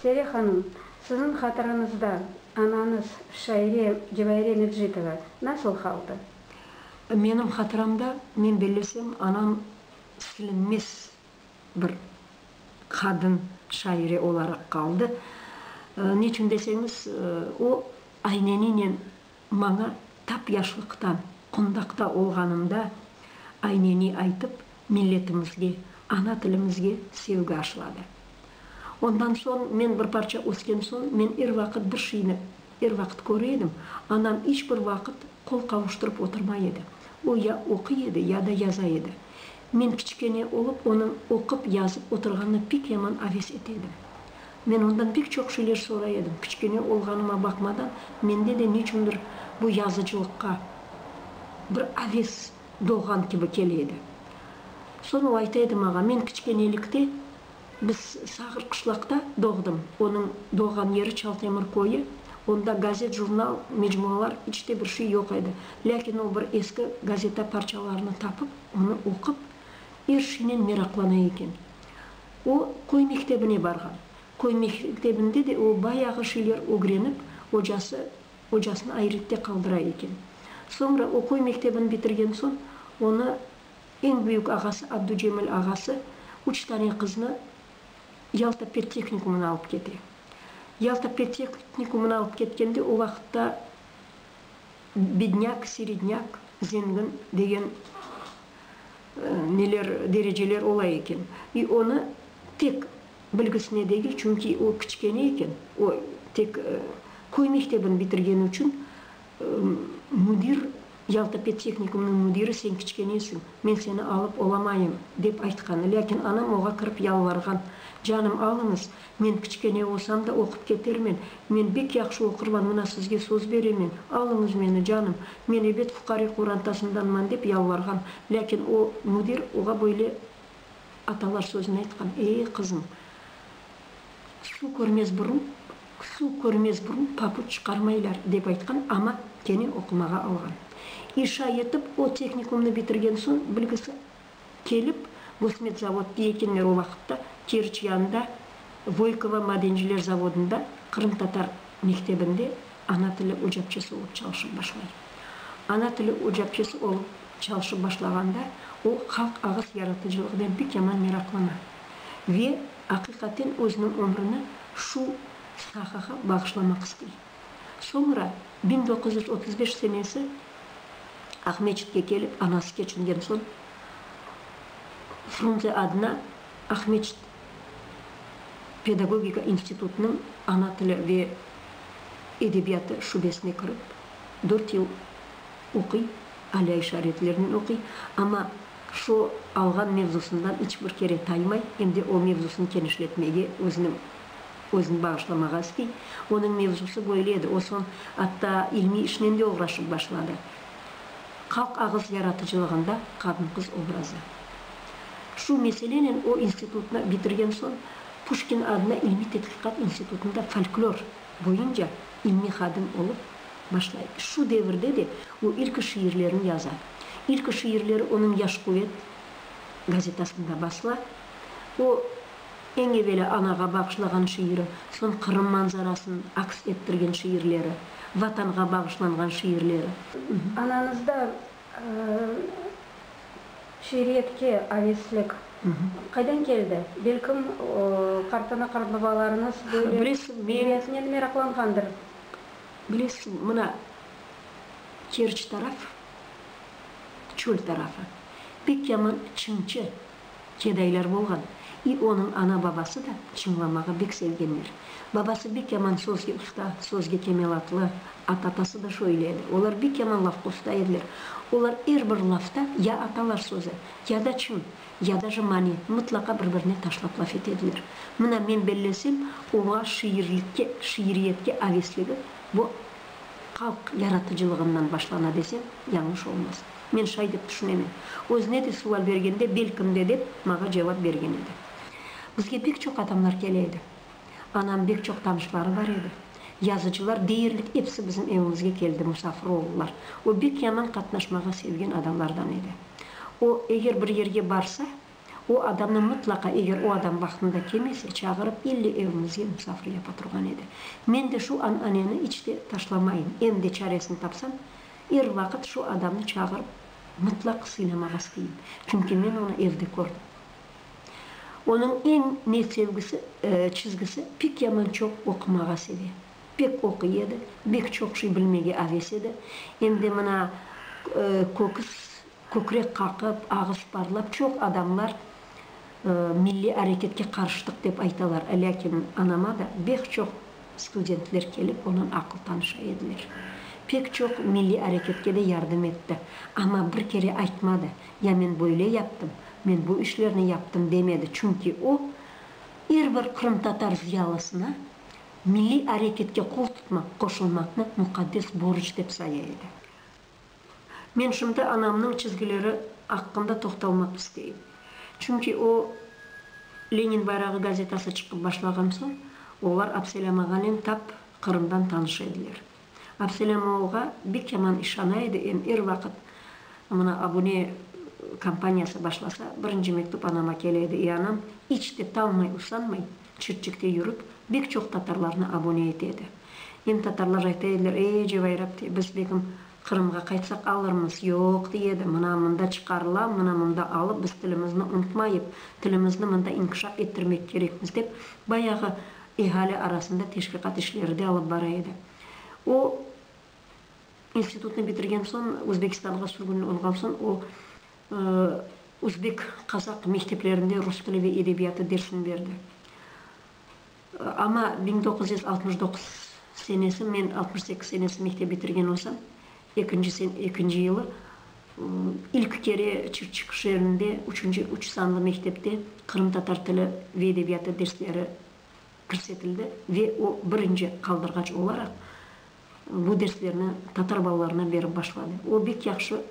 Sere hanım, siziñ hatırıñızda anañız, şaire Cevahire Mecitova nasıl haldı? Menim hatıramda, men bellesem, anam silinmez bir qadın şaire olaraq qaldı. Niçün deseñiz, o ayneninen Maña tap yaşlıqtan, qundaqta olğanımda, ayneni aytıp, milletimizge, ana tilimizge sevgi aşıladı. Ondan soñ, men bir parça ösken soñ, men er vaqıt bir şeyni er vaqıt köre edim, anam iç bir vaqıt qol qavuştırıp oturmay edi. O, ya oquy edi, ya da yaza edi. Men kiçikene olıp onıñ oqup, yazıp oturğanına pek yaman aves ete edim. Men ondan pek çoq şeyler soray edim. Kiçikene olğanıma baqmadan, mende de neçündir bu yazıcılıqqa bir aves doğğan kibi kele edi. Soñ o ayta edi maña, men kiçikenelikte, biz Sağır qışlaqta doğdım, onıñ doğğan yeri Çaltemir köyü, onda gazet, jurnal, mecmualar, iç te bir şey yoq edi. Lâkin o bir eski gazeta parçalarını tapıp. Onı oqup, er şeynen meraqlana eken. O, köy mektebine barğan. Köy mektebinde de o bayağı şeyler ögrenip, ocası, ocasını ayrette qaldıra eken. Soñra o köy mektebini bitirgen soñ, onı eñ büyük ağası Abducemil ağası üç tane qıznı Yalta pedtehnikumına alıp kete. Yalta pedtehnikumına alıp ketkende o vaqıtta Bidnâk, siridnâk, zengin degen neler, dereceler ola eken. İ onı tek bilgisine degil, çünki o kiçkene eken, o tek köy mektebini bitirgeni içün müdir, Yalta pedtehnikumnıñ müdiri sen kiçkenesiñ, men seni alıp olamayım, dep aytqanı. Lâkin anam oğa kirip yalvarğan, Canım, alıñız, Men kiçkene olsam da oqup ketermen. Men bek yahşı oqurman, mına sizge söz beremen. Alıñız meni, canım. Men ebet fuqare qorantasındanman, dep yalvarğan. Lâkin o, müdir, oğa böyle atalar sözüni aytqan, Ey, qızım, suv körmez burun, suv körmez burun papuç çıqarmaylar, dep aytqan, amma kene oqumağa alğan. İşa yetip, o tehnikumnı bitirgen soñ bilgisi. Kelip, Gosmetsavod tiyekenler o vaqıtta Keriç yanında Voykovo madenciler zavodında qırımtatar mektebinde ana tili ocapçısı olıp çalışıp başlay. Ana tili ocapçısı olıp çalışıp başlağanda o halq ağız yaratıcılığınen pek yaman meraqlana ve aqiqaten özüniñ ömrüni şu sahağa bağışlamaq istey. Soñra biñ doquz yüz otuz beş senesi Aqmescitke kelip, anası keçingen soñ, Frunze adına Aqmescit pedagogika institutınıñ ana tili ve edebiyatı şubesine kirip, dört yıl oquy, aliy işaretlernen oquy, amma şu alğan mevzusından iç bir kere taymay, em de o mevzusını kenişletmege, özüniñ Özüni bağışlamağa istey. Onıñ mevzusı böyle edi, o soñ atta ilmiy işnen de oğraşıp başladı. Halq ağız yaratıcılığında qadın-qız obrazı. Şu meselenen o institutnı bitirgen soñ Puşkin adına ilmiy tedqiqat institutında folklor boyunca ilmiy hadim olıp başlay. Şu devirde de o ilki şiirlerini yaza. İlki şiirleri onıñ Yaş quvet gazetasında basıla. O. Eñ eveli anağa bağışlağan şiiri, soñ Qırım manzarasın aks ettirgen şiirleri, Vatanğa bağışlanğan şiirleri. Anañızda şiiriyetke aveslik qaydan keldi? Belkim, qartana-qartbabalarıñız böyle edebiyatnen meraqlanğandır? Bilesiñ, mına, Kerç taraf, çöl tarafı, pek yaman Çimçe Cedaylar bolğan. İ onıñ ana-babası da çıñlamağa bek sevgenler. Babası bek yaman sözge usta, sözge kemelatlı, ata-atası da şöyle edi. Olar bek yaman lafqa usta ediler. Olar er bir lafta ya atalar sözü, ya da çıñ, ya daja mani, mıtlaqa bir-birine taşlap laf etediler. Mına, men bellesem, oğa şiirlikke, şiiriyetke avesligi bu halq yaratıcılığından başlana desem, yañlış olmaz. Men şay dep tüşünemen. Özüne de sual bergende, belkim de, dep maña cevap bergen edi. Bizge pek çoq adamlar kele edi. Anam bek çoq tanışları bar edi. Yazıcılar deyerlik episi bizim evimizge keldi, musafir oldılar. O bek yaman qatnaşmağa sevgen adamlardan edi. O, eger bir yerge barsa, o adamnı mıtlaqa, eger o adam vaqtında kelmese, çağırıp, ille evimizge musafir yapa turğan edi. Men de şu ananeni iç de taşlamayım, em de çaresini tapsam, Er vaqıt şu adamnı çağırıp, mıtlaq sıynamağa isteyim, çünki men onı evde kördim. Onıñ eñ ne sevgisi, çizgisi, pek yaman çoq oqumağa seve. Pek oquy edi, bek çoq şey bilmege aves edi, em de mına köküs, kökrek qaqıp, ağız parlap, çoq adamlar milliy areketke qarıştıq dep aytalar, lâkin anama da bek çoq. Studentler kelip, onıñ aqıl tanışı ediler. Pek çoq milliy areketke de yardım etti. Amma bir kere aytmadı, ya men böyle yaptım, men bu işlerni yaptım demedi, çünki o, er bir qırımtatar zıyalısına milliy areketke qol tutmaq, qoşulmaqnı muqaddes borc dep saya edi. Men şimdi anamnıñ çizgileri aqqında toqtalmaq isteyim. Çünki o, Lenin bayrağı gazetası çıqıp başlağan soñ, olar Abselâmağanen tap Qırımdan tanış ediler. Abselâmoğğa bek yaman işana edi, em er vaqıt mına Abune kampaniyası başlasa, birinci mektüp anama kele edi, i anam iç de talmay, usanmay, Çirçikte yürip, bek çoq tatarlarnı abone ete edi. Eñ tatarlar ayta ediler, Ey, cevayrap, dey, biz begim Qırımğa qaytsaq alırmız, yoq, dey edi, mına mında çıqarıla, mına mında alıp, biz tilimizni unutmayıp, tilimizni mında inkişaf ettirmek kerekmiz, dep, bayağı ehali arasında teşviqat işleri de alıp bara edi. O, institutnı bitirgen soñ, Özbekistanğa sürgün olğan soñ, o, Özbek, qazaq mekteplerinde rus tili ve edebiyatı dersini berdi. Amma biñ doquz yüz altmış doquz senesi, men altmış sekiz senesi mektep bitirgen olsam, ekinci sene, ekinci yılı ilk kere Çırçıq şeerinde üçünci üç sanlı mektepte qırımtatar tili ve edebiyatı dersleri kirsetildi ve o birinci qaldırğaç olaraq bu derslerni tatar balalarına berip başladı. O, bek yahşı.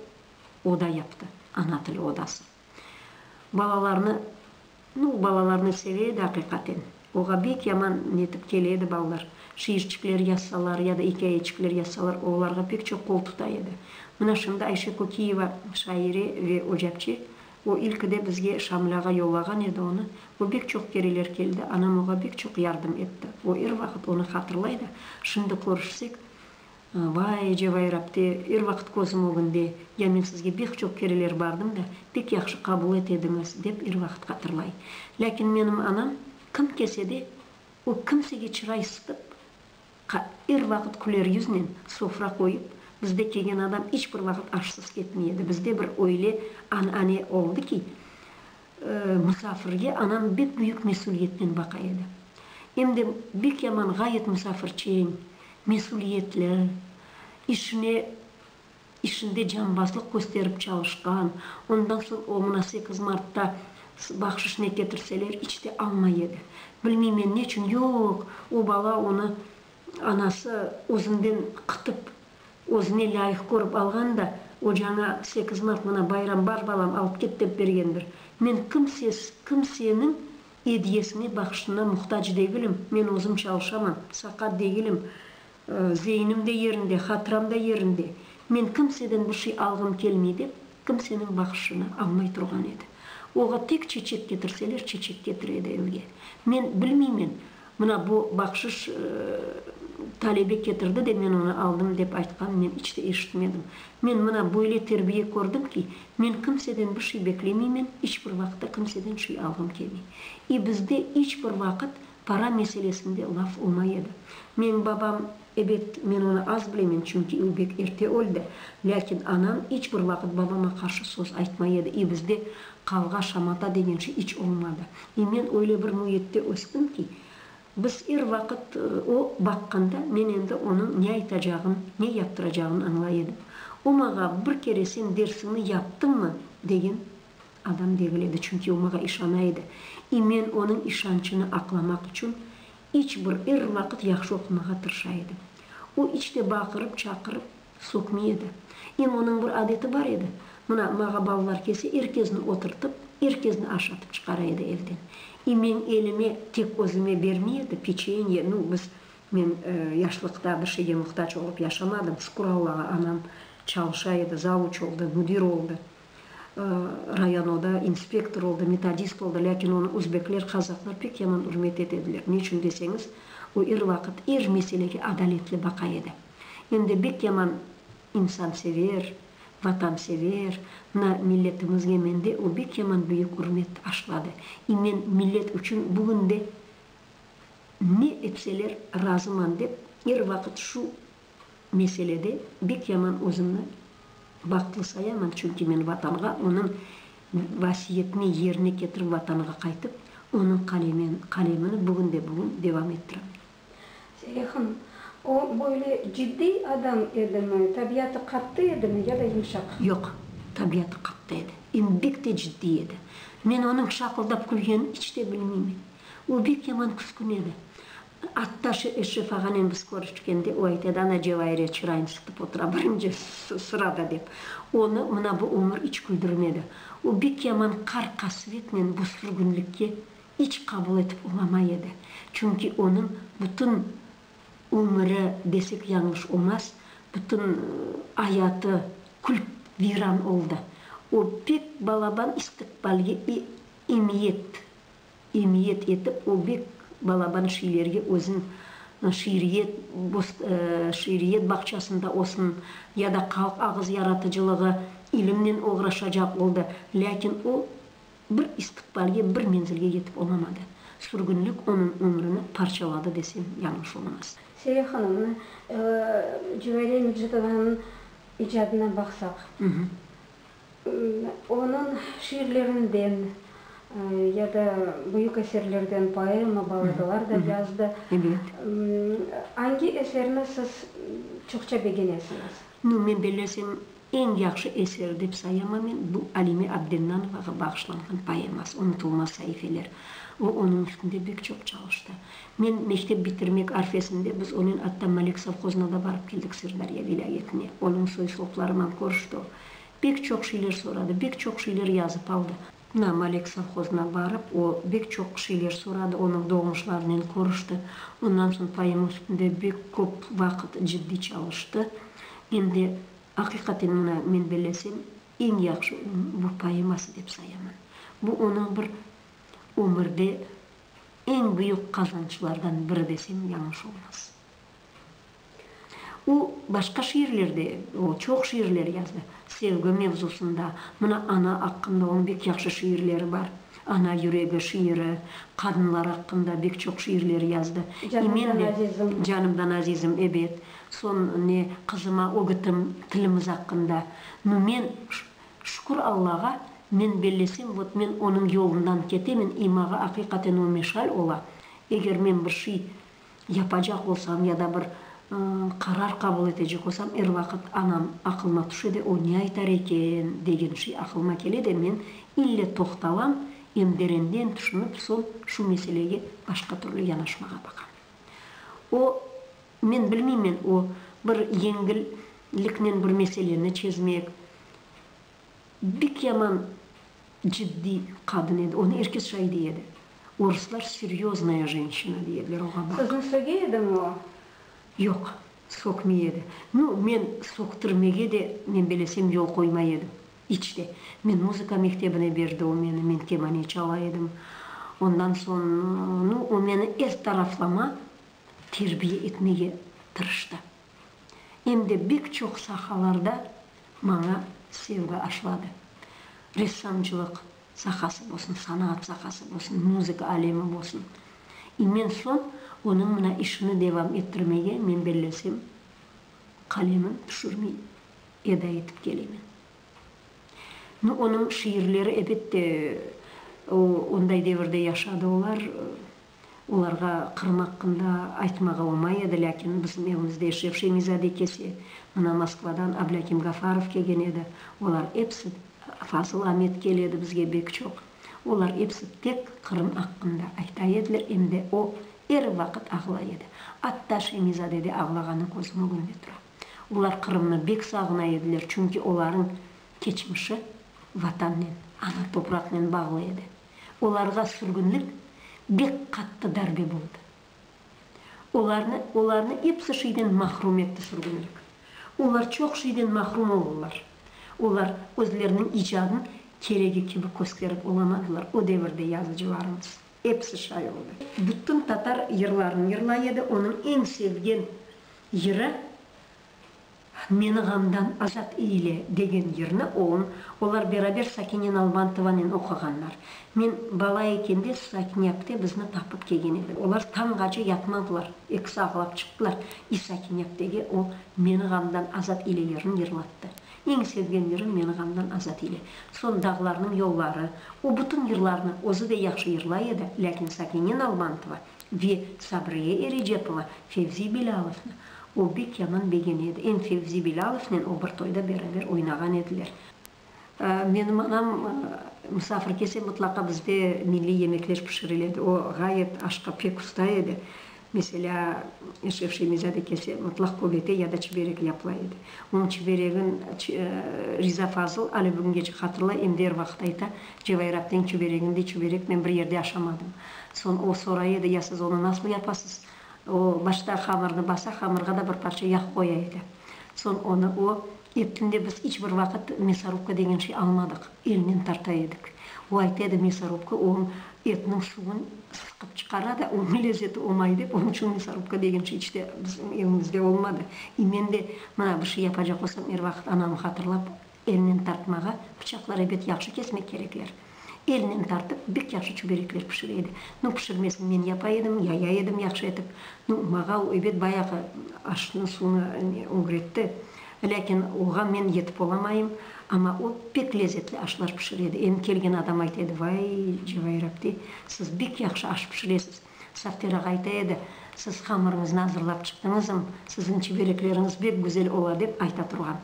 oda yaptı, ana tili odası. Balalarnı, nu, balalarnı seve edi, aqiqaten. Oğa bek yaman netip kele edi balalar. Şiirçikler yazsalar ya da ikâyeçikler yazsalar, olarğa pek çoq qol tuta edi. Mına şimdi Ayşe Kökiyeva, şaire ve ocapçı, o ilki de bizge Şamil ağa yollağan edi onı. O bek çoq kereler keldi, anam oğa bek çoq yardım etti. O er vaqıt onı hatırlay da, şimdi körüşsek, Vay, ecevay Rabte, er vaqıt közüm ögünde, ya men sizge bek çoq kereler bardım da, pek yahşı qabul et ediñiz, dep er vaqıt hatırlay. Lâkin menim anam, kim kelse de, o kimsege çıray sıtıp, qa, er vaqıt küler yüznen sofra qoyıp, bizde kegen adam iç bir vaqıt aşsız ketmey edi. Bizde bir öyle an, ane oldı ki, Musafirge anam bek büyük mesüliyetnen baqa edi. Em de bek yaman, ğayet musafirçeñ, mesüliyetli, işine, işinde canbaslıq kösterip çalışqan. Ondan soñ o mına sekiz martta bahşış ne ketirseler, iç te almay edi. Bilmeymen, neçün, yoq, o bala onı anası özünden qıtıp. Özüne lâyıq körip alğan da, ocaña sekiz mart mına bayram bar, balam, alıp ket dep bergendir. Men kimses, kimseniñ ediyesine, bahşışına muhtac degilim. Men özüm çalışamam, saqat degilim. Zeynim de yerinde, hatıram da yerinde. Men kimseden bir şey alğım kelmey, dep Kimseniñ baqışını almay turğan edi. Oğa tek çeçek ketirseler, çeçek ketir edi evge. Men bilmeymen, mına bu baqşış talebe ketirdi de men onı aldım dep aytqanın men iç de eşitmedim. Men mına böyle terbiye kördim ki, men kimseden bir şey beklemeymen, iç bir vaqıtta kimseden şey alğım kelmey. İ bizde iç bir vaqıt para meselesinde laf olmay edi. Meñ babam. Ebet, men onı az bilemen, çünki o bek erte öldi. Lâkin anam iç bir vaqıt babama qarşı söz aytmay edi, i bizde qavğa, şamata degen şey iç olmadı. I men öyle bir müitte östim ki, biz er vaqıt o baqqanda men endi onıñ ne aytacağın, ne yaptıracağın añlay edim. O maña bir kere sen dersiñni yaptıñmı degen adam degil edi, çünki o maña işana edi. I men onıñ işançını aqlamaq içün İç bir er vaqıt yahşı oqumağa tırışa edi. O iç te baqırıp, çaqırıp, soqmey edi. Em onıñ bir adeti bar edi, mına, mağa balalar kelse, er kesni oturtıp, er kesni aşatıp çıqara edi evden. E, meñ elime, tek özüme bermey edi, peçenye, nu, biz, men, e, yaşlıqta bir şeyge muhtac olıp yaşamadım, sukur Allağa, anam çalışa edi, zavuç oldı, müdir oldı. Rayan o da inspektor oldı, metodist oldı, lâkin onı özbekler, qazaqlar pek yaman ürmet etediler. Ne içün deseñiz, o er vaqıt er meselege adaletli baqa edi. Em de bek yaman insansever, vatansever, mına milletimizge mende o bek yaman büyük ürmet aşladı. İ men millet içün bugün de ne etseler razıman dep er vaqıt şu meselede bek yaman özümni bahtlı sayaman, çünki men Vatanğa, onıñ vasiyetini yerine ketirip Vatanğa qaytıp, onıñ qalemen, qalemini bugün de bugün devam ettirem. Zelya hanım, o böyle ciddiy adam edimi, tabiatı qattı edimi ya da yumşaq? Yoq, tabiatı qattı edi, em bek de ciddiy edi. Men onıñ şaqıldap külgenini iç de bilmeymen. O bek yaman küskin edi. Attaşe Eşref ağanen biz körüşkende, o aytedi, Ana Cevayirye çırayını sıtıp otura, birinci sırada, dep. Onı mına bu ömür iç küldürmedi. O bek yaman qar-qasvetnen bu sürgünlikke iç qabul etip olamay edi. Çünki onıñ bütün ömüri, desek yañlış olmaz, bütün ayatı kül-viran oldı. O pek balaban istiqbalge emiyet. Emiyet etip o bek balaban şiirlerge özün şiiriyet şiiriyet bağçasında olsun ya da halq ağız yaratıcılığı ilimnen oğraşacaq oldı, lâkin o bir istiqbalge, bir menzilge yetip olamadı. Sürgünlik onıñ ömrüni parçaladı desem yañlış olmaz. Seyre hanımnı, Cüveyriye Mecitovanıñ icadına baqsaq. Onıñ şiirlerinden ya da büyük eserlerden poema, balladalar da yazdı. Angi eserini siz çoqça begenesiñiz? Nu, men belesem, eñ yahşı eser dep sayamam men, bu Alime Abdennanovağa bağışlanğan poeması, Unutulmaz saifeler. O, onıñ üstünde bek çoq çalıştı. Men mektep bitirmek arfesinde biz onen atta Malek sovhozına da barıp keldik, Sırdarya vilâyetine. Onıñ soy-soplarınan körüşti o. Bek çoq şeyler soradı, bek çoq şeyler yazıp aldı. Na Malek sovhozına barıp, o, bek çoq şeyler soradı, onıñ doğmuşlarınen körüşti. Ondan soñ poema üstünde bek köp vaqıt ciddiy çalıştı. Men de, aqiqaten, mına, men bellesem, eñ yahşı onıñ bu poeması dep sayaman. Bu, onıñ bir ömürde eñ büyük qazançlardan biri desem, yañış olmaz. O, başqa şiirler de, o, çoq şiirler yazdı, sevgi mevzusında. Mına, ana aqqında onıñ bek yahşı şiirleri bar. Ana yüregi şiiri, qadınlar aqqında bek çoq şiirler yazdı. Canımdan azizim. Canımdan azizim, ebet. Soñ ne, qızıma ögütim, tilimiz aqqında. Nu, men, şükür Allağa, men bellesem, vot, men onıñ yolundan ketemen, imağa aqiqaten o meşal ola. Eger men bir şey yapacaq olsam ya da bir qarar qabul etecek olsam, er vaqıt anam aqılıma tüşe de, o ne aytar eken, degen şey aqılıma kele de, men ille toqtalam, em derenden tüşünip, soñ şu meselege başqa türlü yanaşmağa baqam. O, men bilmeymen, o bir yengilliknen bir meseleni çezmek, Bek yaman ciddiy qadın edi, onı er kes şay dey edi. Oruslar seryoznaya jenşina dey ediler oğa, bak. Sizni söge edimi o? Yoq, soqmay edi. Nu, men soqtırmege de, men belesem, yol qoymay edim. İç te. Men muzıka mektebine berdi o meni, men kemane çala edim. Ondan soñ, nu, o meni er taraflama terbiye etmege tırıştı. em de bek çoq sahalarda maña sevgi aşladı. Ressamçılıq sahası bolsun, sanaat sahası bolsun, muzıka alemi bolsun. İmen soñ onıñ mına işini devam ettirmege men bellesem, qalemim tüşürmey eda etip kelemen. Nu, onıñ şiirleri, ebette, onday devirde yaşadı olar, Olarğa Qırım aqqında aytmağa omay edi, lâkin bizim evimizde eşref Şemiyzade kelse, mına Moskvadan Ablâkim Gafarov kelgen edi, olar episi, Fazıl Amet keledi bizge bek çoq, olar episi tek Qırım aqqında ayta ediler, em de o er vaqıt ağlay edi, atta Şemiyzadede ağlağanı közüm ögünde tura. Olar Qırımnı bek sağına ediler, çünki olarıñ keçmişi Vatannen, ana topraqnen bağlı edi. Olarğa sürgünlik bek qattı darbe boldı. Olarnı, olarnı episi şeyden mahrum etti sürgünlik. Olar çoq şeyden mahrum oldılar. Olar özleriniñ icadın keregi kibi kösterip olamadılar, o devirde yazıcılarımız. Episi şay oldı. Bütün tatar yırlarını yırlay edi, onıñ eñ sevgen yırı Meni ğamdan azat eyle, degen yırnı oñ, olar beraber Sakine Nalbantovanen oquğanlar. Men bala ekende Sakinyapte bizni tapıp kelgen edi. Olar tañğace yatmadılar, ekisi ağlap çıqtılar. İ Sakinyaptege o Meni ğamdan azat eyle yırın yırlattı. Eñ sevgen yırım Meni ğamdan azat eyle. Soñ Dağlarnıñ yolları. O bütün yırlarnı özü de yahşı yırlay edi, lâkin Sakine Nalbantova Ve Sabriye Erecepova Fevzi Belâlovnı o bek yaman begen edi. Em Fevzi Belâlovnen o bir toyda beraber oynağan ediler. Menim anam musafir kelse, mıtlaqa bizde milliy yemekler pişiril edi. O ğayet aşqa pek usta edi. Meselâ, Eşref Şemizade kelse, mıtlaq köbete ya da çiberek yapıla edi. Onıñ çiberegin Riza Fazıl alâ bugünge çik hatırlay, em der vaqıt ayta, Cevairapnen çüberegimdi, çübereknen bir yerde aşamadım. Soñ o soray edi, Ya siz onı nasıl yapasız? O başta hamırnı basa, hamırğa da bir parça yağ qoya edi. Soñ onı o eptinde biz iç bir vaqıt mesorubka degen şey almadıq, elnen tarta edik. O ayta edi, mesorubka o etniñ suvun sıqıp çıqara da, onıñ lezzeti omay dep, onıñ içün mesorubka degen şey iç de bizim evimizde olmadı. E men de mına bir şey yapacaq olsam, er vaqıt anamı hatırlap, Elnen tartmağa, pıçaqlar ebet yahşı kesmek kerekler. Elnen tartıp, bek yahşı çüberekler pişire edi. Nu, pişirmesini men yapa edim, yaya edim yahşı etip. Nu, mağa o ebet bayağı aşnı, suvnı ögretti. Lâkin oğa men yetip olamayım. Amma o pek lezetli aşlar pişire edi. Em kelgen adam ayta edi, Vay, Cevair apte, siz bek yahşı aş pişiresiz. Safter ağa ayta edi, Siz hamırıñıznı azırlap çıqtıñızm, siziñ çüberekleriñiz bek güzel ola, dep ayta turğan.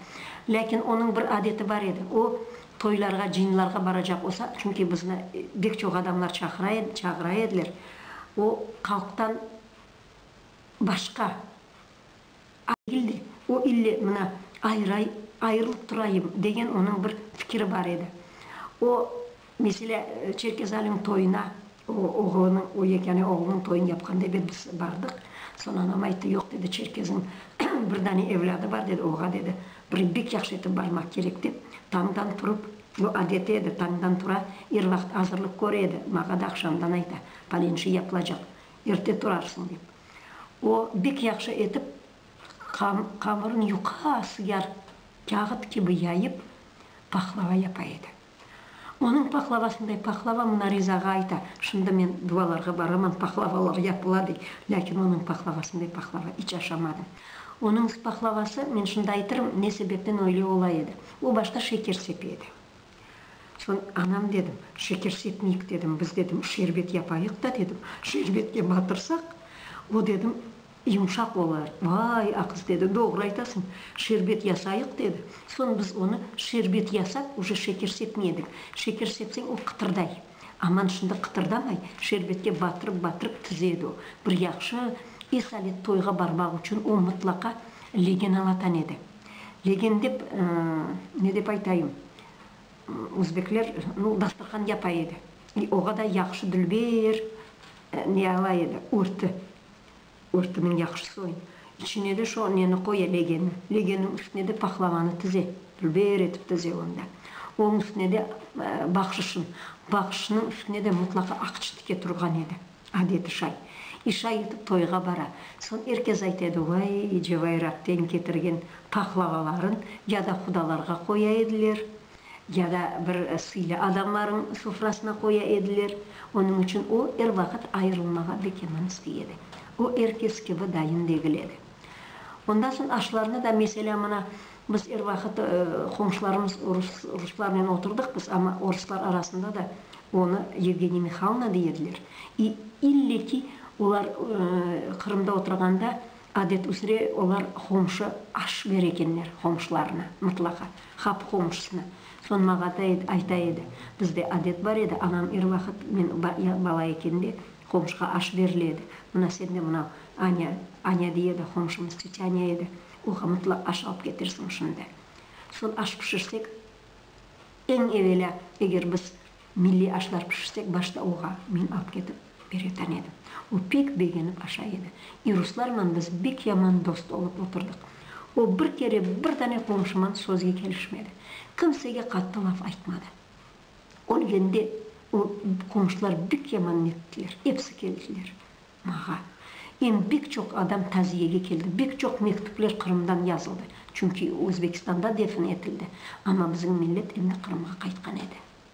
Lâkin onıñ bir adeti bar edi, o, toylarğa, cıyınlarğa baracaq olsa, çünki bizni bek çoq adamlar çaqıra edi, çağıra ediler, o, halqtan başqa, Ailede o ille mına ayıray, ayırılıp turayım, degen onıñ bir fikiri bar edi. O, meselâ, Çerkezaliñ toyuna o, oğlunıñ, o yekâne oğlunıñ toyun yapqanda ebet biz bardıq. Soñ anam ayttı, yoq, dedi, Çerkeziñ bir dane evlâdı bar, dedi, oğa, dedi, bir bek yahşı etip barmaq kerek, dep, tañdan turıp, bu adeti edi, tañdan tura, er vaqıt azırlıq köre edi, maña da aqşamdan ayta, palenşe yapılacaq, Erte turarsıñ, dep, o bek yahşı etip qamırın yuqa sıyar kâğıt kibi yayıp, pahlava yapa edi. Onıñ pahlavasınday pahlava mına Rizağa ayta, Şimdi men duvalarğa baraman, pahlavalar yapıla, dey. Lâkin onıñ pahlavasınday pahlava iç aşamadım. Onıñ pahlavası, men şimdi aytırım, ne sebepten öyle ola edi, o başta şeker sepe edi. Soñ anam dedim, şeker sepmeyik dedim, biz dedim, şerbet yapayıq da dedim, şerbetke batırsaq, o dedim, yumşaq olar. Vay, a qız dedi, doğru aytasıñ, şerbet yasayıq dedi. Soñ biz onı şerbet yasap, uje şeker sepmey edik. Şeker sepseñ o qıtırday. Aman şimdi qıtırdamay, şerbetke batırıp-batırıp tize edi o. Bir yahşı is alet toyğa barmaq içün o mıtlaqa legen alatan edi. Legen dep, ne dep aytayım, özbekler, nu, dasturhan yapay edi. İ oğa da yahşı dülber ne alay edi, örtü. Örtüniñ yahşı soyun. İçine de şo neni qoya, legeni. Legenniñ üstüne de pahlavanı tize, dülber etip tize onu da. Onıñ üstüne de bahşışın. Bahşışınıñ üstüne de mutlaqa aqçı tike turğan edi. Adeti şay, işa yetip toyğa bara. Soñ er kes aytedi, vay, Cevairaqten ketirgen pahlavaların ya da qudalarğa qoya ediler, ya da bir sıylı adamlarnıñ sufrasına qoya ediler. Onıñ içün o, er vaqıt ayırılmağa bekeman istey edi. O, er kes kibi dayın degil edi. Ondan soñ aşlarnı da, meselâ, mına, Biz er vaqıt qomşularımız ruslarnen oturdıq biz, amma oruslar arasında da onı Yevgeniy Mihalnıy dey ediler. İ, ille ki, olar Qırımda oturğanda, adet üzre, olar qomşu aş berer ekenler qomşularına, mıtlaqa, hap qomşusına. Soñ mağa da ayta edi, bizde adet bar edi, anam er vaqıt men bala ekendi, qomşuğa aş berile edi. Mına sende mınau Aña, Aña dey edi, qomşumız Tetyanya edi. Oğa mıtlaq aş alıp ketirsiñ şimdi. Sol aş pişirsek, eñ evelâ, eger biz milliy aşlar pişirsek, başta oğa men alıp ketip öğreten edim. O pek begenip aşa edi. İ ruslarman biz bek yaman dost olıp oturdıq. O bir kere bir dane qomşuman sözge kelişmedi. Kimsege qattı laf aytmadı. Ölgende o qomşular bek yaman nettiler, episi keldiler. Mağa. Em bek çoq adam taziyege keldi, bek çoq mektüpler Qırımdan yazıldı, çünki Özbekistanda defn etildi, amma bizim millet endi Qırımğa qaytqan edi.